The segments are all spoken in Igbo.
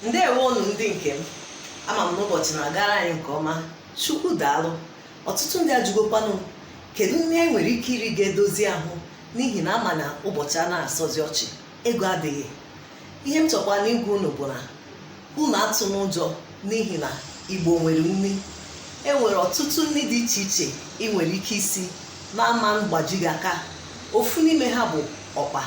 ndewo unu ndị nke m ama m na ụbọchị na-agara anyị nke ọma chukwu daalụ ọtụtụ ndị ajụgokwanụ kedu nri anyị nwere ike iri ga-edozi ahụ n'ihi na ama na ụbọchị a na-asọzi ọchị ego adịghị ihe m chọkwanụ ịgwa unu bụ na unu atụna ụjọ n'ihi na igbo nwere nri e nwere ọtụtụ nri dị iche iche ị nwere ike isi na-ama mgbaji gị aka ofu n'ime ha bụ ọkpa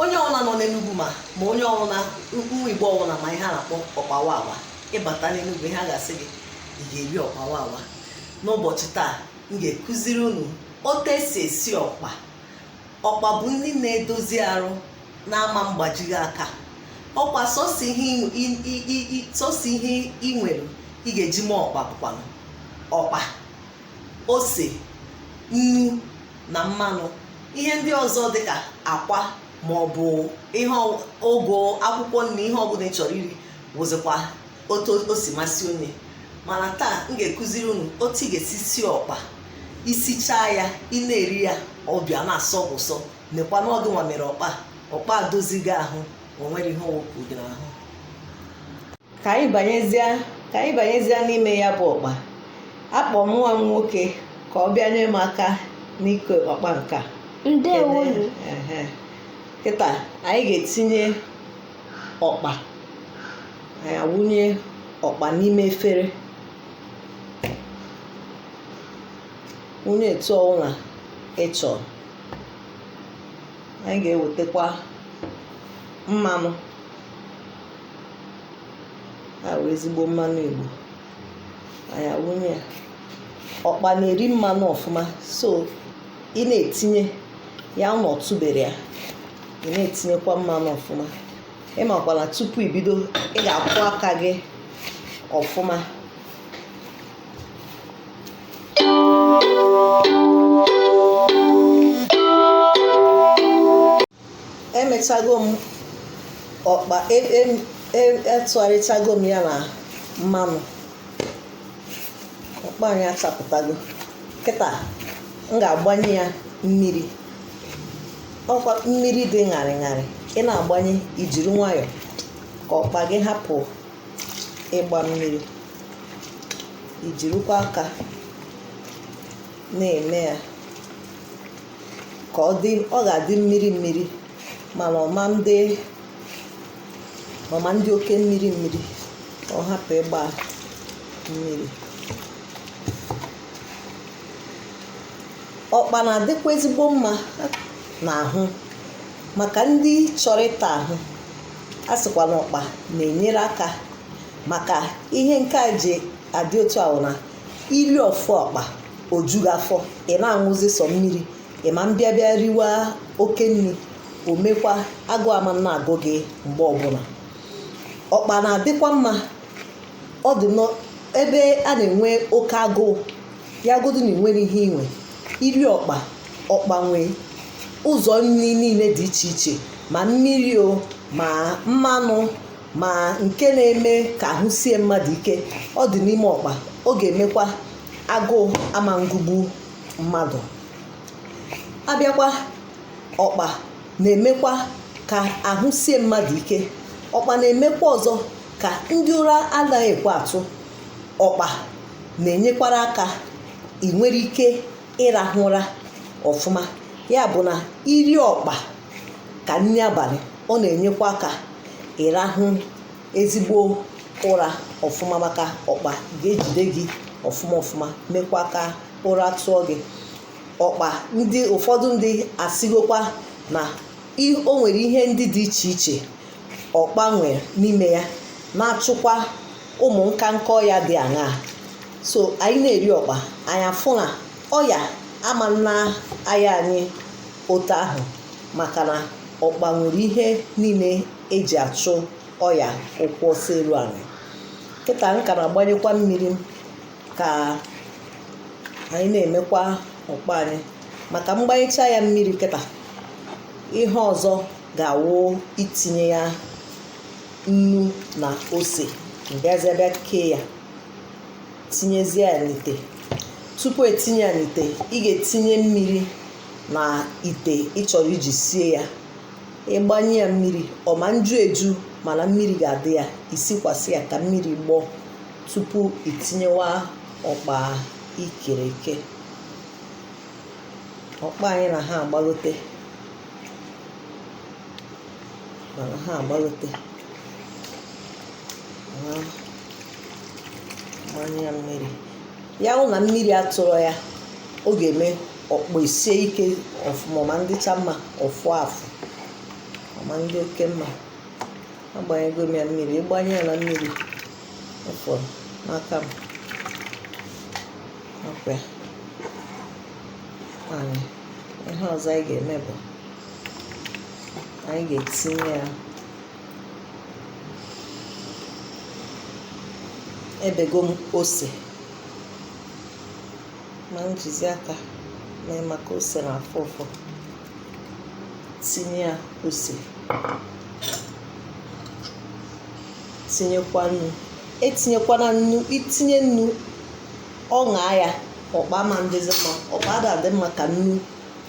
onye ọbụla nọ n'enugwu ma ma onye ọbụla nwa igbo ọbụla ma ihe a na-akpọ ọkpa wawa ị bata n'enugwu ihe a ga-asị gị ị ga-eri ọkpa wawa n'ụbọchị taa m ga-ekụziri unu otu e si esi ọkpa ọkpa bụ nri na-edozi arụ na-ama mgbaji gị aka ọkpa sọsọ ihe ị nwere ị ga-eji mee ọkpa bụkwanụ ọkpa ose nnu na mmanụ ihe ndị ọzọ dịka akwa ma ọ bụ ihe ụgụ akwụkwọ nri ihe ọbụla ị chọrọ iri wụzikwa otu o si masị onye mana taa m ga-ekụziri unu otu ị ga-esi sie ọkpa i sichaa ya ị na-eri ya ọ bịa na-asọ ụsọ nekwa n'ọgụ nwa mere ọkpa ọkpa dozigo ahụ o nwere ihe ọ wụpụ gị n'ahụ ka anyị banyezie n'ime ya bụ ọkpa akpọ m nwa m nwoke ka ọ bịa nyere m aka n'ike ọkpa nke a ndewo nụ Ehe. kịta anyị ga-etinye ọkpa anyị awụnye ọkpa n'ime efere wụnye etu ọwụla ị chọrọ anyị ga-ewetakwa mmanụ a wụ ezigbo mmanụ igbo anyị awụnye ya ọkpa na-eri mmanụ ọfụma so ị na-etinye ya na ọtụbere ya ị na-etinyekwa mmanụ ọfụma ị makwa na tupu ibido ị ga-akwọ aka gị ọfụma emechago m ọkpa etụgharịchago m ya na mmanụ ọkpa anyị achapụtago kịta m ga-agbanye ya mmiri ọkwa mmiri dị ṅarị ṅarị ị na-agbanye i jiri nwayọọ ka ọkpa gị hapụ ịgba mmiri i jirikwa aka na-eme ya ka ọ dị ọ ga-adị mmiri mmiri mana ọ ma ndị oke mmiri mmiri ka ọ hapụ ịgba mmiri ọkpa na-adịkwa ezigbo mma n'ahụ maka ndị chọrọ ịta ahụ a sịkwa na ọkpa na-enyere aka maka ihe nke a ji adị otu a wụ na iri ofu ọkpa o ju gị afọ ị na-aṅụzi sọ mmiri ị ma mbịa bịa riwa oke nri o mekwa agụụ ama na-agụ gị mgbe ọbụla ọkpa na-adịkwa mma ọ dị n'ebe a na-enwe oke agụụ ya godu na e nwere ihe inwe iri ọkpa ọkpa nwee ụzọ nri niile dị iche iche ma mmiri o ma mmanụ ma nke na-eme ka ahụ sie mmadụ ike ọ dị n'ime ọkpa ọ ga-emekwa agụụ ama ngụgbu mmadụ abịakwa ọkpa na-emekwa ka ahụ sie mmadụ ike ọkpa na-emekwa ọzọ ka ndị ụra anaghị ekwe atụ ọkpa na-enyekwara aka ị nwere ike ịrahụ ụra ọfụma ya bụ na iri ọkpa ka nri abalị ọ na-enyekwa aka ịrahụ ezigbo ụra ọfụma maka ọkpa ga-ejide gị ọfụma ọfụma mekwa ka ụra tụọ gị ọkpa ndị ụfọdụ ndị asịgokwa na o nwere ihe ndị dị iche iche ọkpa nwere n'ime ya na-achụkwa ụmụ nka nka ọya dị aṅaa so anyị na-eri ọkpa anyị afụ na ọya ama na-aya anyị otu ahụ maka na ọkpa nwere ihe niile e ji achụ ọya ụkwụ ọsọ elu anyị kịta m ka na-agbanyekwa mmiri ka anyị na-emekwa ọkpa anyị maka m gbanyecha ya mmiri kịta ihe ọzọ ga-awụ itinye ya nnu na ose m bịazie bịa kee ya tinyezie ya n'ite tupu e tinye ya n'ite ị ga-etinye mmiri na ite ị chọrọ iji sie ya ị gbanye ya mmiri ọ ma nju eju mana mmiri ga-adị ya i sikwasị ya ka mmiri gbọọ tupu i tinyewa ọkpa i kere eke ọkpa anyị na ha agbagote mana ha agbagote gbanye ya mmiri ya wụ na mmiri atụrọ ya ọ ga-eme ọkpọ esie ike ọfụma ma ndịcha mma ọfụ afụ ma ndị oke mma agbanyego m ya mmiri ịgbanye ya na mmiri ọfọ n'aka m ọkwa anyị ihe ọzọ anyị ga-eme bụ anyị ga-etinye ya ebego m ose ma njizi aka mee maka ose na-afụ ụfụ tinye ya ose tinyekwa nnu etinyekwana nnu itinye nnu ọ ṅaa ya ọkpa ma ndịzi mma ọkpa ada adị mma ka nnu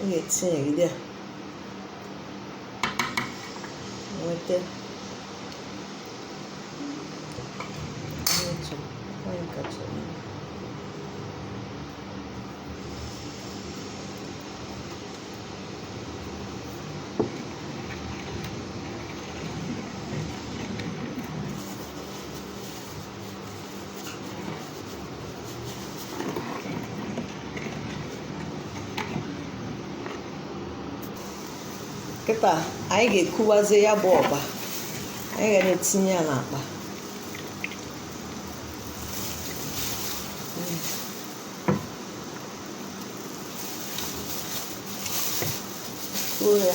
ọ ga-etinyegide ya nweta otu onye kacha kịta anyị ga-ekuwazie ya bụ ọkpa anyị ga na-etinye ya n'akpa kuo ya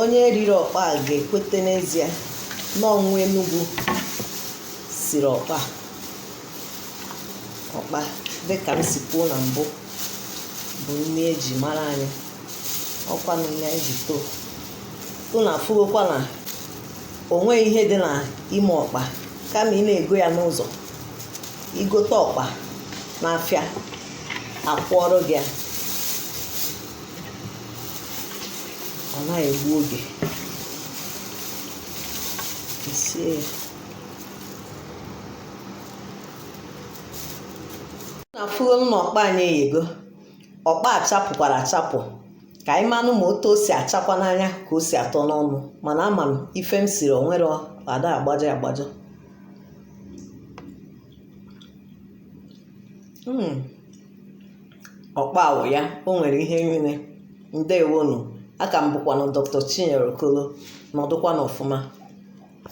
onye riri ọkpa a ga-ekweta n'ezie na ọ nwa Enugu siri ọkpa a ọkpa dịka m si kwuo na mbụ bụ nni eji mara anyị ọkwa na nni anyị ji too unu afụgokwa na o nweghị ihe dị na ime ọkpa kama ị na-ego ya n'ụzọ igote ọkpa n'afịa akwọọrọ gị ya ọ na-egbu oge sie ya unu afụgo na ọkpa anyị eyego ọkpa achapụkwara achapụ ka anyị manụ ma otu o si achakwa n'anya ka o si atọ n'ọnụ mana ama m ife m siri onwere ada agbajọ agbajọ hmm. ọkpa a wụ ya o nwere ihe niile ndewonu aka m bụkwanụ dr chinyere okolo nọdụkwanụ ọfụma